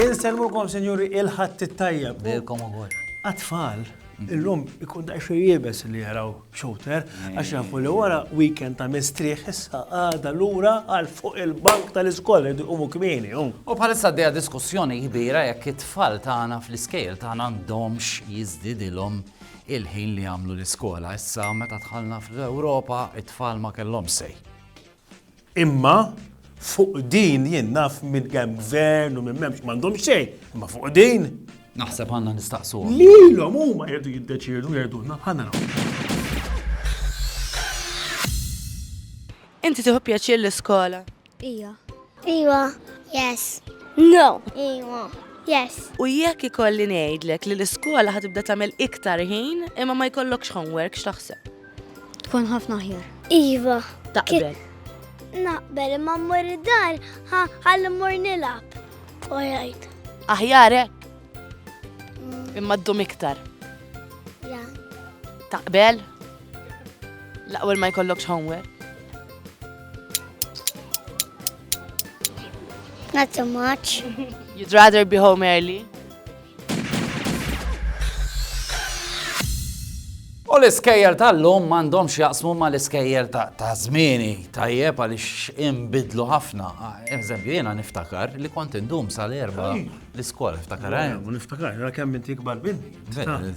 Inselmukom, Sinjuri, il-Ħadd it-Tajjeb. Lilkom ukoll. Għat-tfal, illum ikun daqsxejn iebes li jaraw Shooter, għax nafu li wara weekend ta' mistrieħ issa għada lura għal fuq il-bank tal-iskola li umu kmieni. U bħalissa għaddejja diskussjoni kbira jekk it-tfal tagħna fl-iskejl tagħna għandhomx jiżdidilhom il-ħin li jagħmlu l-iskola. Issa meta dħalna fl-Ewropa, it-tfal ma kellhomx sej. Imma fuq din jien naf minn kemm gvern u minn m'hemmx m'għandhom xejn, imma fuq din. Naħseb għandna nistaqsu. Lilhom huma jridu jiddeċiedu jgħidulna ħanna Inti tieħu pjaċir l-iskola? Ija. Ija. Yes. No. Ija. Yes. U jekk ikolli ngħidlek li l-iskola ħatibda tagħmel iktar ħin imma ma jkollokx homework x'taħseb? Tkun ħafna aħjar. Iva. Taqbel. Naqbel imma mmur id-dar ħalli mmur nilab. U jgħid. Aħjarek. Mm. Imma ddum iktar. Ja. Taqbel? L-aqwel ma jkollokx homework. Not so much. You'd rather be home early? U l-iskejjel tal-lum m'għandhomx jaqsmu ma l-iskejjel ta' zmini tajjeb għaliex imbidlu ħafna. Ah, eżempju, jiena niftakar li kont indum sal-erba l-iskola, niftakar. Eh? Niftakar, ra kemm inti kbar minni.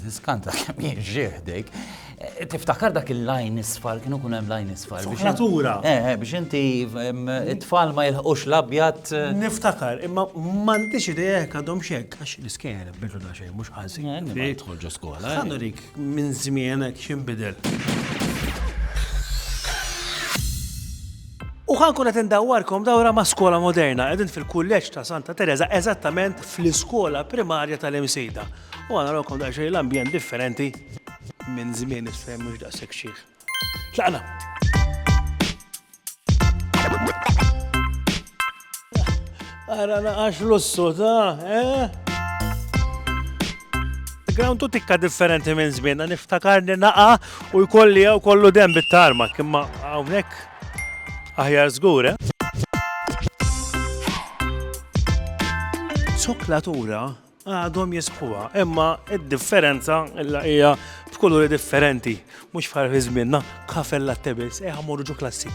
Skanta kemm jien ġieħdejk. Tiftakar dak il-lajn isfar, kienu kun hemm lajn isfar. Natura. Eh, eh, biex inti it-tfal ma jilħqux l-abjad. Eh. Niftakar, imma m'għandix idea jekk għadhom xek, għax l-iskejjer bidu da xejn mhux ħażin. Eh, Tħolġu skola. Għandu dik minn żmienek x'inbidel. U ħan kunet indawwarkom dawra ma' skola moderna, edin fil-kulleġġ ta' Santa Teresa, eżattament fl-iskola primarja tal-imsejda. U għana l-okom daċċej l-ambjent differenti Minn żmien is-sehem mhux daqshekk xiħ. Tlaqna! Ara naqax lussu ta', eh? Ground tu tikka differenti minn żmien, niftakarni naqa u jkolli jew kollu dem bit-tarma, kimma hawnhekk aħjar żgur, eh? Soklatura Għadhom jisħquha, imma id-differenza illa hija b'kuluri differenti, mhux fħar fi żmienna, kafe latte biss, eħa morru ġo klassi.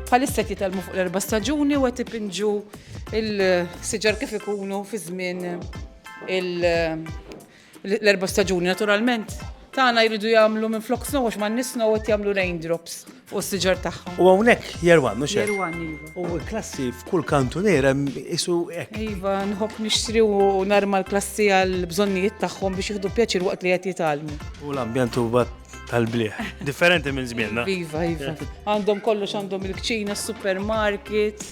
Bħalissa jitalmu fuq l-erba' staġuni u qed ipinġu il-siġar kif ikunu fi żmien il- L-erba' staġuni naturalment tagħna jridu jagħmlu minflok snow għax m'għandniex snow qed jagħmlu raindrops fuq is-siġar tagħhom. U hawnhekk Year One, mhux hekk? Year One, iva. U l-klassi f'kull kantuniera isu hekk. Iva, nħobb nixtri u narma l-klassi għall-bżonnijiet tagħhom biex jieħdu pjaċir waqt li qed jitgħallmu. U l-ambjent huwa tal-blieh. Differenti minn żmienna. Iva, iva. Għandhom kollox għandhom il-kċina, s-supermarket.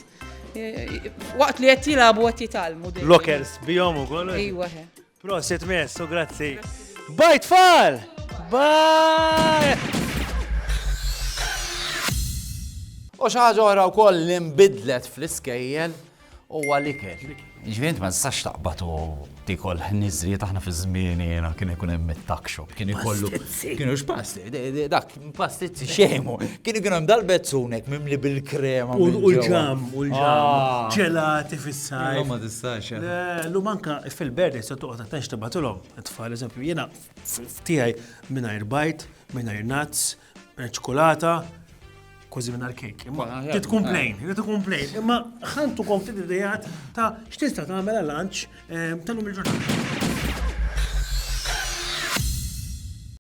Waqt li qed jilagħbu qed jitgħallmu. Lockers bihom ukoll. Iva, ħe. Prosit mess u grazzi. Bye tfal! Bye! U xaħġa oħra wkoll li nbidlet fl-iskejjel u għalikel. Ġvint ma nistax taqbad u tikol nizri taħna fi żmieni jiena kien ikun hemm it-takxu. Kien ikollu kienu x'pasti, dak Pastizzi. Xejmu. Kien ikun hemm dal-bezzunek mimli bil-krema. U l-ġam, u l-ġam. Ah. Ġelati fis-sajf. Ma tistax. Eh. Eh, lu manka fil-berdi se toqgħod attenx tibatilhom. Tfal eżempju jiena tiegħi mingħajr bajt, mingħajr nuts, eh, ċokolata, kważi minn kejk. Imma tkun plain, tkun plain. Imma ħantu kom ftit idejat ta' x'tista' tagħmel għal lunch tal-lum il-ġurnata.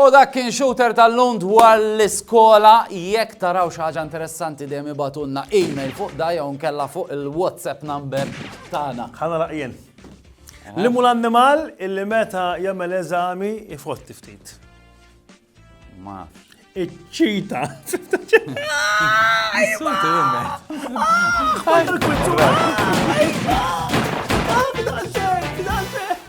U dak kien Shooter tal-lum dwar l-iskola. Jekk taraw xi ħaġa interessanti dejjem ibagħtulna email fuq da jew inkella fuq il-WhatsApp number tagħna. Ħa nagħlaq jien. Li mhu l-annimal illi meta jagħmel eżami jfotti ftit? Ma nafx. Iċ-ċita. Insultu jien.